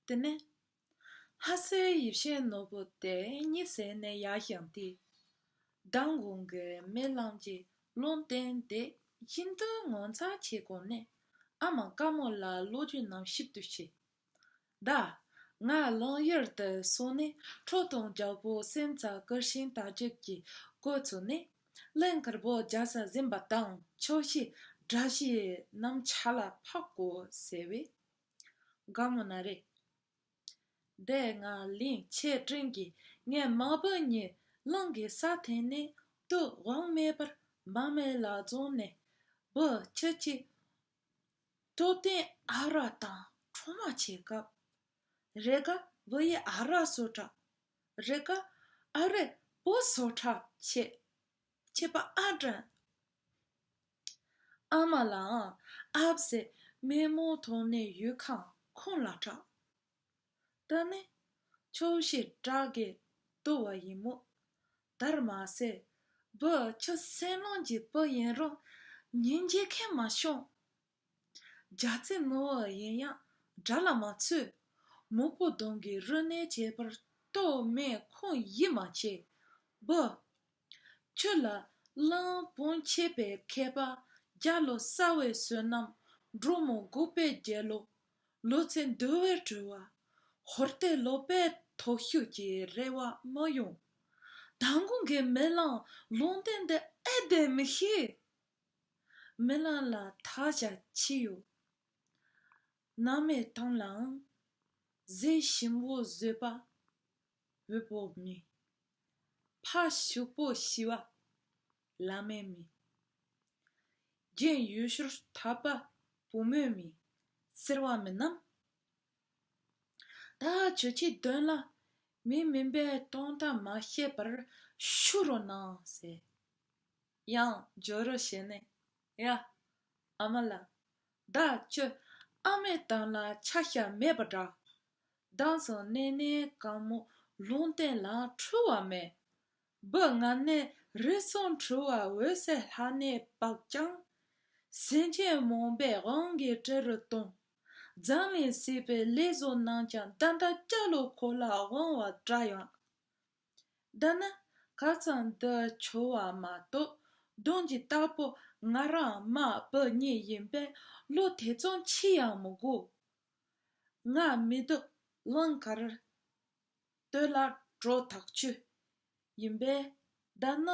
དེ་ནས་ལྷ་སའི་ཡིབ་ཤས་ནོར་བུ་དེ་གཉིད་སད་ནས་ཡར་བཞག་སྟེ། མདང་དགོང་གི་མེ་རླངས་ཀྱི་རླུང་བསྟེན་ཏེ་ཁྱིམ་དུ་ངོ་མཚར་ཆེ་སྐོར་ནས་ཨ་མ་དཀར་མོ་ལ་ལོ་རྒྱུས་རྣམས་ཞིབ་ཏུ་བཤད། བདག། ང་རླུང་གཡུལ་དུ་སོང་ནས་ཁྲོ་དང་རྒྱལ་པོ་སེམས་རྩ་སྐུར་ཞིང་དག་བྱེད་ཀྱི་སྐུ་ཚུགས་ནས། གླིང་དཀར་པོ་རྒྱ་ས་གཟིམས་པ་དང་ཕྱོགས་བཞི་དགྲ་བྱེད་རྣམས་ཆ་ལ་འཕགས་གོ་ཟེར་བས། དགའ་མོ་ན་རེ། བདག་ང་གླིང་ཆེ་འབྲིང་གི་ངའི་མ་བུ་གཉིས་གླིང་གི་ས་འཐེན་ནས་དུག་དབང་མེད་པར་འབངས་མི་ལ་བཙོང་ནས་བུ་ཁྱི་གཅིག་སྟོབས་ལྡན་ཨ་རག་དང་འཕྲོ་མ་བྱེད་སྐབས། རེ་འགའ་ལོ་ཡི་ཨ་རག་བཟོ་དྲག། རེ་འགའ་ཨ་རེ་པོ་བཟོ་དྲག་བྱེད། བྱེད་པ་ཨ་དྲན། ཨ་མ་ལའང་ཨ་བཟས་སྨན་མོ་དོགས་ནས་ཡུལ་ཁམས་ཁོང་ལ་གྲགས། སྟོན་ནི། ཕྱོགས་བཞིར་བཀྲག་གིས་བརྟུལ་བ་ཡིན་མོད། དར་མ་སྲས་བུ་ཁྱི་སེང་རླུང་གི་བུ་ཡིན་རུང། ཉིན་བྱེད་མཁན་མ་བྱུང། རྒྱ་རྩེ་ནོར་བུ་ཡིན་ཡང་དགྲ་ལ་མ་ཚུད། མུ་པོ་གདོང་གི་རུ་སྣེ་བྱེད་པར་གཏོལ་མེད་ཁུངས་ཡིད་མ་ཆེས། བུ། ཁྱོད་ལ་བློན་པོ་འཁྱེད་པའི་མཁས་པ་བརྒྱ་ལོ་གསར་བའི་བསོད་ནམས་འབྲུག་མོ་འགུགས་པའི་རྒྱལ་ལོ། ལོ་ཚེ་འདུལ་བའི་སྤྲུལ་བ། ཧོར་ལྟའི་ལོ་པའི་དོགས་ཤུགས་ཀྱི་རེ་བ་མ་ཡོང། མདང་དགོང་གི་མེ་གླང་ལུང་བསྟན་འདི་ཨེ་བདེན་མི་ཤེས། མེ་གླང་ལ་དག་བྱ་ཅི་ཡོད། ནང་མའི་ཏང་ལའང་གཟི་ཞིམ་བོ་བཟོས་པ། བུ་བོ་མི། ཕ་ཕྱུག་པོ་ཤི་བ། བླ་མའི་མི། རྒན་ཡོལ་ཤོར་ཐབས་པ་བུ་མོའི་མི། ཟེར་བ་མིན་ནམ། ད་ཁྱོད་ཀྱིས་དོན་ལ་མི་མིན་པའི་སྟོང་ལྟ་མ་བཤད་པར་ཞུ་རོ་གནང་ཟེར། ཡང་འཇོག་རོ་བྱས་ནས་ཡ། ཨ་མ་ལགས། ད་ཁྱོད་ཨ་མའི་གཏམ་ལ་ཆ་ཤས་མེད་པ་འདྲ། གདངས་སུ་གནས་ནས་དཀར་མོ་ལུང་བསྟན་ལ་འཁྲུལ་བ་མེད། སྦུ་ལྔ་ནས་རི་གསུམ་འཁྲུལ་བ་འོད་གསལ་ལྷ་གནས་དཔག་ཀྱང། སེམས་ཅན་རྨོངས་པའི་དབང་གིས་བྲལ་རུ་ལྟུང། འཛམ་གླིང་སྲིད་པའི་ལས་བཟོ་རྣམས་ཀྱང་འདི་འདྲ་སྐྱ་ལོ་ཁོ་ལ་དབང་བ་འདྲ་ཡང། འདི་ནི་ག་ཙམ་དུ་འཁྱོལ་བ་མ་གཏོགས་གདོན་གྱི་རྟགས་པོ་ང་རང་མ་བུ་གཉིས་ཡིན་པས་བློ་དེ་ཙམ་ཆེ་ཡང་མི་དགོས། སྔགས་མི་སྡུག་ཀླང་དཀར་སྟོད་ལ་སྒྲོ་དག་བཅུ། ཡིན་པས་བཟླས་ན་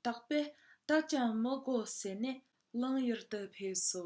དག་པས་བདག་ཀྱང་མི་གོ་ཟེར་ནས་གླང་ཡུལ་དུ་ཕེབས་སོ།